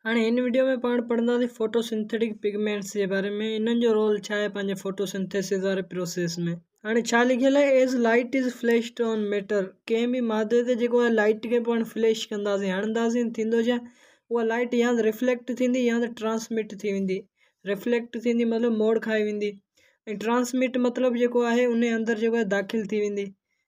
هاڻي هن وڊيو ۾ پاڻ پڙهنداسين فوٽو سنٿيٽڪ پگمينٽس جي باري ۾ انهن جو رول ڇا آهي پنهنجي فوٽو سنٿيسز واري پروسيس ۾. هاڻي ڇا لکيل آهي As light is flashed on matter ڪنهن به مادي تي جيڪو آهي لائٽ کي پاڻ فليش ڪنداسين هڻنداسين ٿيندو ڇا اها لائٽ يا ته رفليڪٽ ٿيندي يا ته ٽرانسمٽ ٿي ويندي رفليڪٽ ٿيندي مطلب موڙ کائي ويندي ۽ ٽرانسمٽ مطلب جيڪو آهي انهي اندر جيڪو آهي داخل ٿي ويندي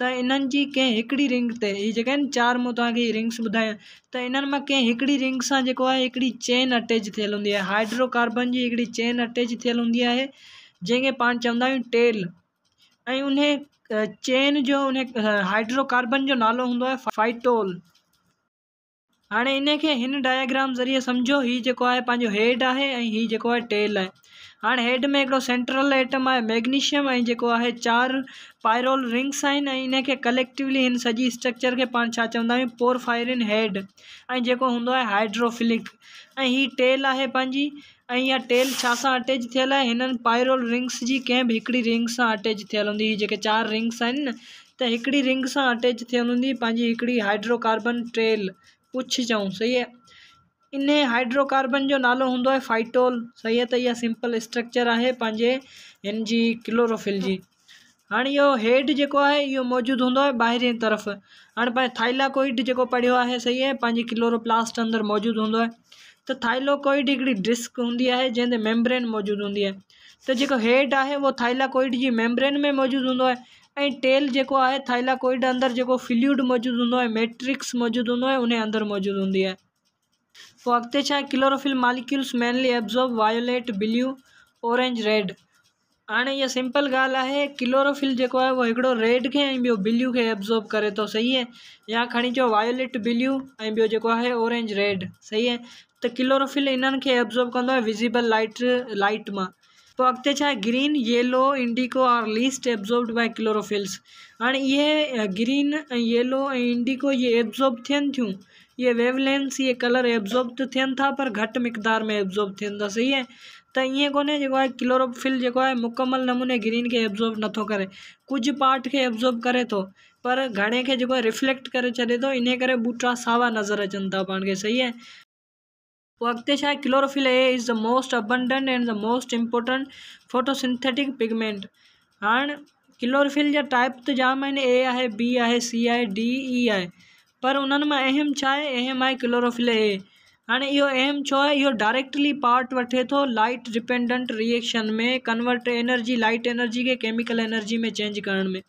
ته انهن جي ڪنهن هڪڙي رنگ تي هي جيڪي آهن چار مون توهان کي هي رنگس ٻڌايون ته انهن مان ڪنهن هڪڙي رنگ سان جيڪو آهي هڪڙي چين اٽيچ ٿيل هوندي آهي هائڊرو ڪاربن جي هڪڙي چين اٽيچ ٿيل هوندي آهي جنهن کي پاڻ چوندا آهيون ٽيل ۽ ان چين جو ان هائڊرو ڪاربن جو نالو هوندو آهي فائٽول هاڻي انهي کي هن ڊائگرام ذريعي سمجهو هي جيڪو آهي پنهنجو هيڊ آهي ۽ هي جيڪو آهي ٽيل آهي هاڻي هيڊ ۾ هڪڙو سينٽرل ايٽم آهي ميگنيشيم ۽ جيڪو آهي چار پائرول رنگس آهن ۽ انهي کي ڪليڪٽولي هن سڄي اسٽرڪچر کي پاڻ ڇا چوندا آهيون پورفائرين هيڊ ۽ جيڪو هوندو آهي هائيڊروفلڪ ۽ هي ٽيل آهي پنهنجي ۽ اها ٽيل ڇا سان اٽيچ ٿيل آهي هنن پائرول رنگس جي ڪنهن به هڪڙي رنگ سان اٽيچ ٿيل هوندي هي جيڪي چار رنگس آهن نه ته هڪڙي رنگ سان اٽيچ ٿيل هوندي پنهنجي هڪڙي هائڊرو ڪاربن ٽيل پڇ چئون صحيح آهي انهي هائڊرو ڪاربن جو نالو هوندو آهي فائٽول صحيح آهي ته اها سمپل اسٽرڪچر آهي پنهنجي هن جي ڪلوروفل جي هاڻ اهو هيڊ جيڪو آهي اهو موجود هوندو آهي ٻاهرين طرف هاڻ پنهنجو ٿائليڪوئڊ جيڪو پڙهيو آهي صحيح آهي پنهنجي ڪلورو پلاسٽ اندر موجود هوندو آهي ته ٿائليڪوئڊ هڪڙي ڊسڪ هوندي آهي جنهن تي ميمبرين موجود هوندي آهي ته جيڪو هيڊ آهي اهو ٿائليڪوئڊ جي ميمبرين ۾ موجود هوندو آهي ۽ ٽيل جيڪو آهي ٿائليڪوئڊ اندر جيڪو فلوئڊ موجود هوندو آهي ميٽرڪس موجود هوندو آهي ان اندر موجود هوندي آهي پوء اڳتي ڇا chlorophyll molecules mainly absorb violet blue orange red هاڻي اها سمپل ڳالهه آهي ڪلوروفل جيڪو آهي اهو هڪڙو ريڊ کي ۽ ٻيو بليو کي ابزورب ڪري ٿو صحيح اهي يا کڻي چو وايوليٽ بليو ۽ ٻيو جيڪو آهي اورينج ريڊ صحيح اهي ته ڪلوروفل انهن کي ابزورب ڪندو آهي وزيبل لائٽ لائٽ مان پوء اڳتي ڇا آهي green, yellow, indigo are least absorbed by chlorophylls هاڻي اهي گرين ۽ ييلو ۽ انڊيگو اهي ابزورب ٿين ٿيون اهي ويو لينس اهي ڪلر ابزورب ته ٿين ٿا پر گهٽ مقدار ۾ ابزورب ٿين ٿا صحيح آهي ته ائين ڪونهي جيڪو آهي ڪلوروفل جيڪو آهي مڪمل نموني گرين کي ابزورب نٿو ڪري ڪجهه پارٽ کي ابزورب ڪري ٿو پر گهڻي کي جيڪو آهي رفليڪٽ ڪري ڇڏي ٿو انهي ڪري ٻوٽا ساوا نظر اچن ٿا پاڻ کي صحيح آهي پوء اڳتي ڇا آهي chlorophyll a is the most abundant and the most important photosynthetic pigment هاڻ ڪلوروفل جا ٽائيپ ته جام آهن اي آهي بي آهي سي آهي ڊي اي آهي پر انهن مان اهم ڇا آهي اهم آهي ڪلوروفل اي هاڻ اهو اهم ڇو آهي اهو ڊائريڪٽلي پارٽ وٺي ٿو light dependent reaction ۾ convert energy light energy کي ڪيميڪل انرجي ۾ چينج ڪرڻ ۾.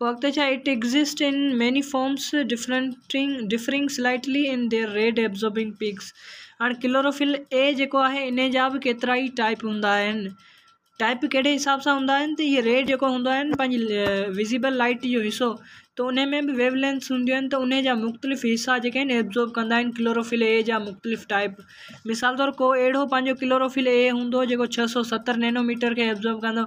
وقت جا it exist in many forms differing slightly in their red absorbing peaks هاڻي ڪلوروفل اي جيڪو آهي ان جا به ڪيترا ئي ٽائيپ هوندا آهن ٽائيپ ڪهڙي حساب سان هوندا آهن ته هي ريڊ جيڪو هوندا آهن پنهنجي وزيبل لائيٽ جو حصو ته ان ۾ به ويو لينس هونديون آهن ته ان جا مختلف حصا جيڪي آهن ابزورب ڪندا آهن ڪلوروفل اي جا مختلف ٽائيپ مثال طور ڪو اهڙو پنهنجو ڪلوروفل اي هوندو جيڪو ڇهه سو ستر نينو ميٽر کي ابزورب ڪندو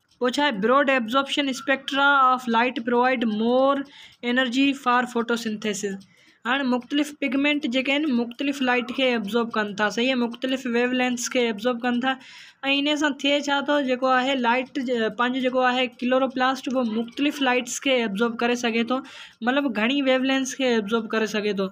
پوء ڇا آهي broad absorption spectra of light provide more energy for photosynthesis هاڻي مختلف پگمينٽ جيڪي آهن مختلف لائيٽ کي ابزارب ڪن ٿا صحيح مختلف ويو لينس کي ابزارب ڪن ٿا ۽ ان سان ٿئي ڇا ٿو جيڪو آهي لائيٽ پنهنجو جيڪو آهي ڪلورو پلاسٽ اهو مختلف لائيٽس کي ابزارب ڪري سگهي ٿو مطلب گهڻي ويو لينس کي ابزارب ڪري سگهي ٿو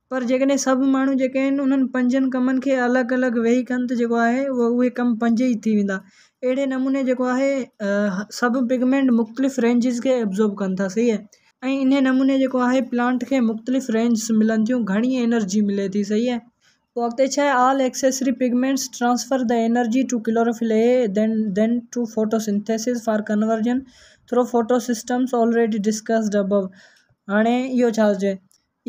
پر جيڪڏهن سڀ ماڻهو جيڪي آهن انهن پنجن ڪمن کي الڳ الڳ ويهي ڪن ته جيڪو آهي اهي ڪم پنج ئي ٿي ويندا اهڙي نموني جيڪو آهي سڀ پگمينٽ مختلف رينجز کي ابزورب ڪن ٿا صحيح آهي ۽ انهي نموني جيڪو آهي پلانٽ کي مختلف رينجز ملن ٿيون گهڻي انرجي ملي ٿي صحيح آهي پوء اڳتي ڇا آهي all accessory pigments transfer the energy to chlorophyll A then then to photosynthesis for conversion through photosystems already discussed above هاڻي اهو ڇا هجي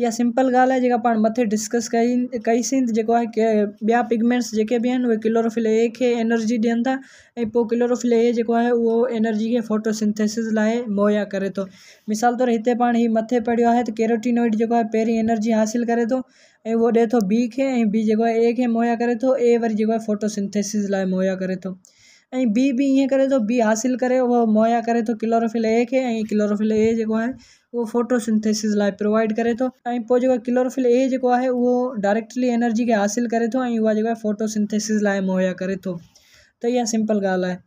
اها سمپل ڳالهه آهي جيڪا پاڻ مٿي ڊسڪس ڪئي ڪئيسين ته جيڪو آهي ڪي ٻيا پگمينٽس جيڪي به آهن اهي ڪلوروفل اي کي انرجي ڏين ٿا ۽ پوء ڪلوروفل اي جيڪو آهي اهو انرجي کي ڦوٽوسنٿيسز لاء مهيا ڪري ٿو مثال طور هتي پاڻ هي مٿي پڙهيو آهي ته ڪيروٽينوئڊ جيڪو آهي پهرين انرجي حاصل ڪري ٿو ۽ اهو ڏئي ٿو بي کي ۽ بي جيڪو آهي اي کي مهيا ڪري ٿو اي وري جيڪو آهي ڦوٽوسنٿيسز لاء مهيا ڪري ٿو ۽ بي به ائين ڪري ٿو بي حاصل ڪري اهو مهيا ڪري ٿو ڪلوروفل اي کي ۽ ڪلوروفل اي جيڪو آهي اهو فوٽو سنٿيسز لاء پرووائيڊ ڪري ٿو ۽ پوء جيڪو ڪلوروفل اي جيڪو آهي اهو ڊائريڪٽلي انرجي کي حاصل ڪري ٿو ۽ اها جيڪو آهي فوٽو سنٿيسز لاء مهيا ڪري ٿو ته اها سمپل ڳالهه آهي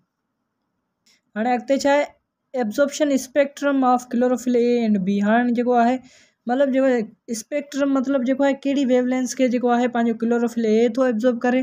هاڻي اڳتي ڇا آهي absorption spectrum of chlorophyll A and B هاڻي جيڪو آهي مطلب جيڪو اسپيڪٽرم مطلب جيڪو آهي ڪهڙي ويو لينس کي جيڪو آهي پنهنجو ڪلوروفل اي ٿو ابزورب ڪري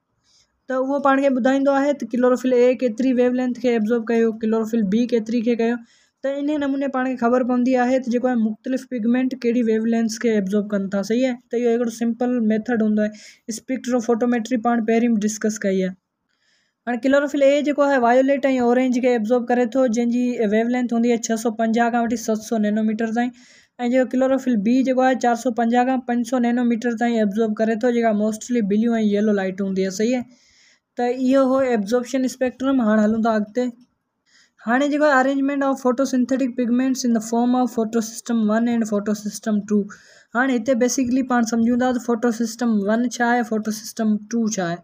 ته اهو پاڻ کي ٻڌائيندو آهي ته ڪلوروفل اي ڪيتري ويو لينٿ کي ابزورب ڪيو ڪلوروفل بي ڪيتري کي ڪيو ته انهي نموني پاڻ کي خبر پوندي آهي ته جيڪو مختلف پگمينٽ ڪهڙي ويو لينٿ کي ابزورب ڪن ٿا صحيح آهي ته اهو هڪڙو سمپل ميٿڊ هوندو آهي اسپيڪٽرو فوٽوميٽري پاڻ پهرين به ڊسڪس ڪئي آهي هاڻي ڪلوروفل اي جيڪو آهي وايوليٽ ۽ اورينج کي ابزورب ڪري ٿو جنهن جي ويو لينٿ هوندي آهي ڇهه سؤ پنجاهه کان وٺي ست سؤ نينوميٽر تائين ۽ جيڪو ڪلوروفل بي جيڪو آهي چار سؤ پنجاهه کان پنج سؤ نينو ميٽر تائين ابزورب ڪري ٿو جيڪا موسٽلي بليو ۽ ييلو لائٽ هوندي آهي صحيح ته اهو هو ابزوربشن اسپيڪٽرم هاڻ هلون ٿا اڳتي هاڻي جيڪو arrangement of photosynthetic pigments in the form of photosystem one and photosystem two هاڻي هتي بيسيڪلي پاڻ سمجهون ٿا ته فوٽو سسٽم ون ڇا آهي فوٽو سسٽم ٽو ڇا آهي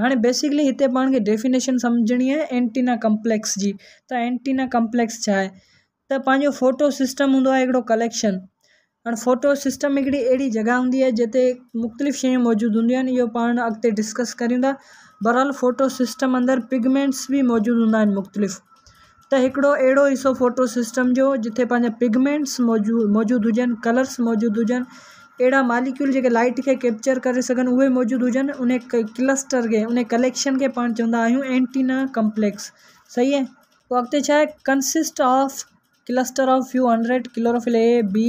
هاڻي بيسڪلي هتي پاڻ کي ڊيفينيشن سمجهڻي آهي اينٽينا ڪمپليڪس جي ته اينٽينا ڪمپليڪس ڇا آهي ته پنهنجو ڦوٽو سسٽم هوندو آهي هڪڙو ڪليڪشن هاڻي ڦوٽو سسٽم هڪڙي اهڙي جڳهه هوندي آهي جتي مختلف شيون موجود هونديون آهن اهو پاڻ اڳتي ڊسڪس ڪريون ٿا بهرحال ڦوٽو سسٽم اندر پگمينٽس بي موجود هوندا آهن مختلف ته هڪڙو اهڙو حصو فوٽو سسٽم جو جتي پنهنجا پگمينٽس موجود هجن ڪلرس موجود هجن اهڙا ماليڪيول جيڪي لائٽ کي ڪيپچر ڪري سگهن اهي موجود هجن ان ڪلسٽر کي ان ڪليڪشن کي پاڻ چوندا آهيون اينٽينا ڪمپليڪس صحيح اهي پوء اڳتي ڇا آهي consist of cluster of few hundred chlorophyll A B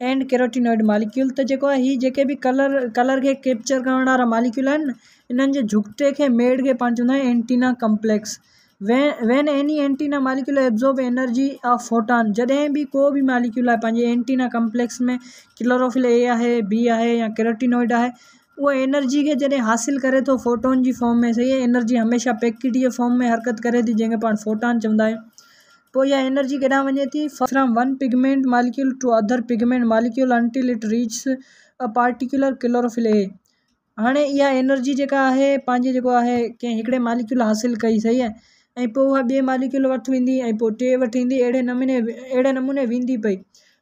and carotenoid molecule ته جيڪو آهي هي جيڪي به ڪلر ڪلر کي ڪيپچر ڪرڻ وارا ماليڪيول آهن انهن جي جهڳٽي کي ميڙ کي پاڻ چوندا آهن antenna complex when any antenna molecule absorb energy of photon جڏهن به ڪو به ماليڪيول آهي پنهنجي اينٽينا ڪمپليڪس ۾ ڪلوروفل اي آهي بي آهي يا ڪيروٽينوئڊ آهي اهو انرجي کي جڏهن حاصل ڪري ٿو فوٽون جي فارم ۾ سهي انرجي هميشه پيڪٽ جي فارم ۾ حرڪت ڪري ٿي جنهن کي پاڻ فوٽان چوندا آهيون پوء اها انرجي ڪيڏانهن وڃي ٿي؟ From one pigment molecule to other pigment molecule until it reaches a particular chlorophyll A هاڻي اها انرجي جيڪا آهي پنهنجي جيڪو آهي ڪنهن هڪڙي ماليڪيول حاصل ڪئي صحيح آهي ۽ پوء اها ٻئي ماليڪيول وٽ ويندي ۽ پوء ٽي وٽ ايندي اهڙي نموني اهڙي نموني ويندي پئي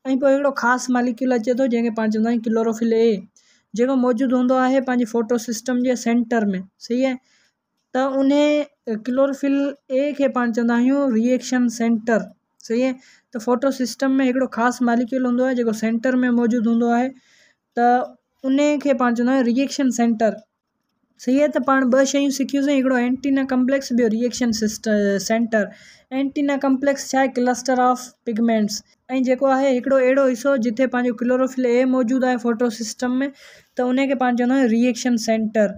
۽ پوء هڪڙو خاص ماليڪيول اچي ٿو جنهن کي پاڻ چوندا آهيون ڪلوروفل اي جيڪو موجود هوندو آهي پنهنجي فوٽو سسٽم جي سينٽر ۾ صحيح آهي ته انهي ڪلوروفل اي کي پاڻ چوندا آهيون ري ايڪشن سينٽر صحيح اهي ته فوٽو سسٽم ۾ هڪڙو خاص ماليڪيول هوندو آهي جيڪو سينٽر ۾ موجود هوندو آهي ته انهي کي پاڻ چوندا آهيون ري ايڪشن سينٽر صحيح اهي ته پاڻ ٻه شيون سکيون سين هڪڙو اينٽينا ڪمپليڪس ٻيو reaction centre antenna complex ڇا آهي ڪلسٽر آف پگمينٽس ۽ جيڪو آهي هڪڙو اهڙو حصو جتي پنهنجو ڪلوروفل اي موجود آهي فوٽو سسٽم ۾ ته انهي کي پاڻ چوندا آهيون ري ايڪشن سينٽر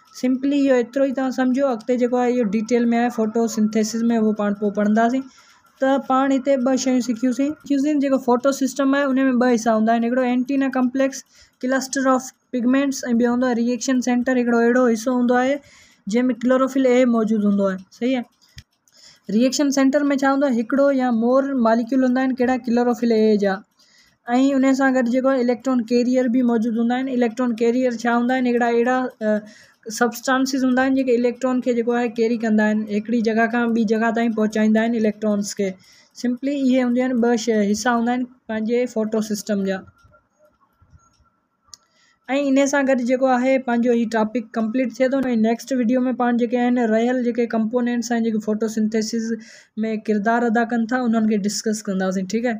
سمپلي اهو ايترو ئي توهان سمجهو اڳتي جيڪو آهي اهو ڊيٽيل ۾ آهي فوٽو سنٿيسز ۾ اهو پاڻ پوء پڙهنداسين ته پاڻ هتي ٻه شيون سکيوسين جيڪو فوٽو سسٽم آهي ان ۾ ٻه حصا هوندا آهن هڪڙو antenna complex cluster of pigments ۽ ٻيو هوندو آهي ري ايڪشن سينٽر هڪڙو اهڙو حصو هوندو آهي جنهن ۾ ڪلوروفل اي موجود هوندو آهي صحيح آهي ريئيڪشن سينٽر ۾ ڇا هوندو آهي هڪڙو يا مور ماليڪيول هوندا آهن ڪهڙا ڪلوروفل اي جا ۽ ان سان گڏ جيڪو آهي اليڪٽران ڪيريئر به موجود هوندا آهن اليڪٽران ڪيريئر ڇا هوندا آهن هڪڙا اهڙا سبسٽانسز هوندا آهن جيڪي اليڪٽران کي جيڪو آهي ڪيري ڪندا آهن هڪڙي جڳهه کان ٻي جڳهه تائين پهچائيندا آهن اليڪٽرانس کي سمپلي اهي هونديون آهن ٻه شيء حصا هوندا آهن پنهنجي فوٽو سسٽم جا ۽ ان سان گڏ جيڪو آهي پنهنجو هي ٽاپڪ ڪمپليٽ ٿئي ٿو ۽ نيڪسٽ وڊيو ۾ پاڻ جيڪي آهن رهيل جيڪي ڪمپونينٽس آهن جيڪي فوٽو سنٿيسز ۾ ڪردار ادا ڪن ٿا انهن کي ڊسڪس ڪنداسين ٺيڪ آهي